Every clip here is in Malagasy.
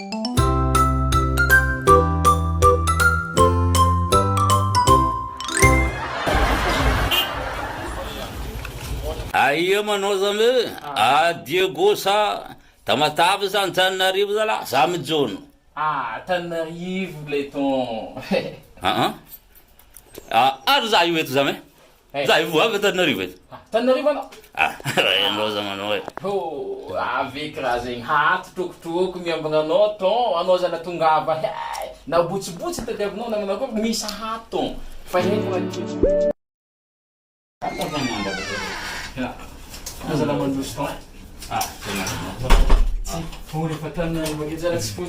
Aia manao zany hoe ah Diego sa Tamatave sa Antananarivo zalah za mijono. Ah Antananarivo lay ton. Aa ary za io eto zany e. Za efa avy Antananarivo eto. Antananarivo anao? Ah, raha ianao za manao e. Oh, avec raha zegny haty trokotrooko miambagna anao ton, anao zala tongava hey, na botsibotsy itadiavinao na manao akory misa haty ton, fa hay fogna ny toetrany. Anao zala mandroso ton e. Ah, tena. Tsy, oh, refa Antananarivo aketsy zala tsy foy.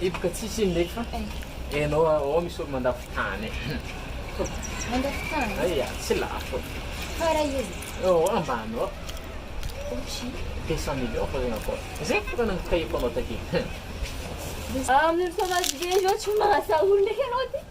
Hipoka tsisy iny ndreky fa enao ao misy olo mandafo tany Mandafo tany? Aia tsy lafo Fa raha io? Ao ambany ao Ohatry ny? Deux cent millions fa zegny akao Zay ko tokony nokahiko anao takeo Amin'io fotoana azo io zao tsy mahasahy olo ndreky anao ty.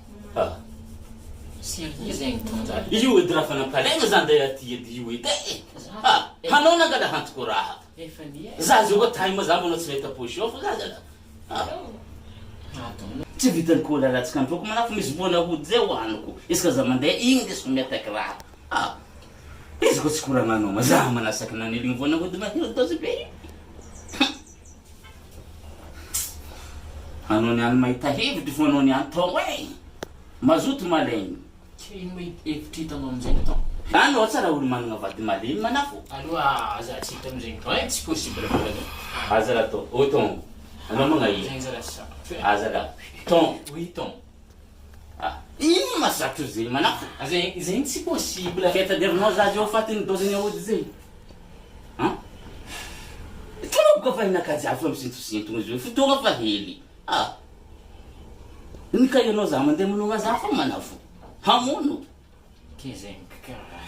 Ah! Sérieux zay Mitron zany? Io edy raha fa nampalaigna za nday aty edy io edy eh! Ah! Hanao nangala hantiko raha ka! Za zao ka time za mbola tsy nahita poche off za zala ah! Tsy vitany ko la latsaka androko manako fa misy vola hody zay hohaniko izy ka za mande igny ndesiko miataky raha ka! Ah! Izy ko tsy ko raha nagnoma za manasaky naneligny vola hody mahery dose be io! Hum! Hanao ny any mahita hevitra vo hanao ny any tao eh! Mazoto malemy. Ka ino moa hevitra hitanao amin'izay atao? Any oa tsara olo managna vady malemy manafo. Aloha aza tsy hitany zegny fa eh tsy possible boka zany. Aza raha ton, oh ton, anao magnaia? Aza raha. Ton. Oui ton. Ah! Inona ma zatra zay manafika ah zay? Zay no tsy possible zay taderinao za zao fatin'ny dose ny aody zay an! Tena boka fa hinan-kajafa misintosintono zao fotoagna fa hely ah! Ny ka ianao za mandeha manonga za fô manafo hamono.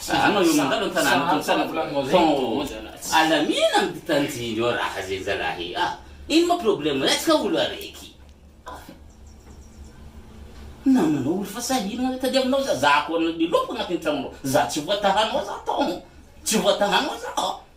Anao eo mandalo an-tanàna tao an-tanàna tao alamina ny mpitanjiny eo raha zay zalahy ah ino ma problème retsaka olo araiky ah namanao olo fa sahirana re tadiavinao za za koa miloka agnatin'ny tragnonao za tsy voatahanao za tao tsy voatahanao za.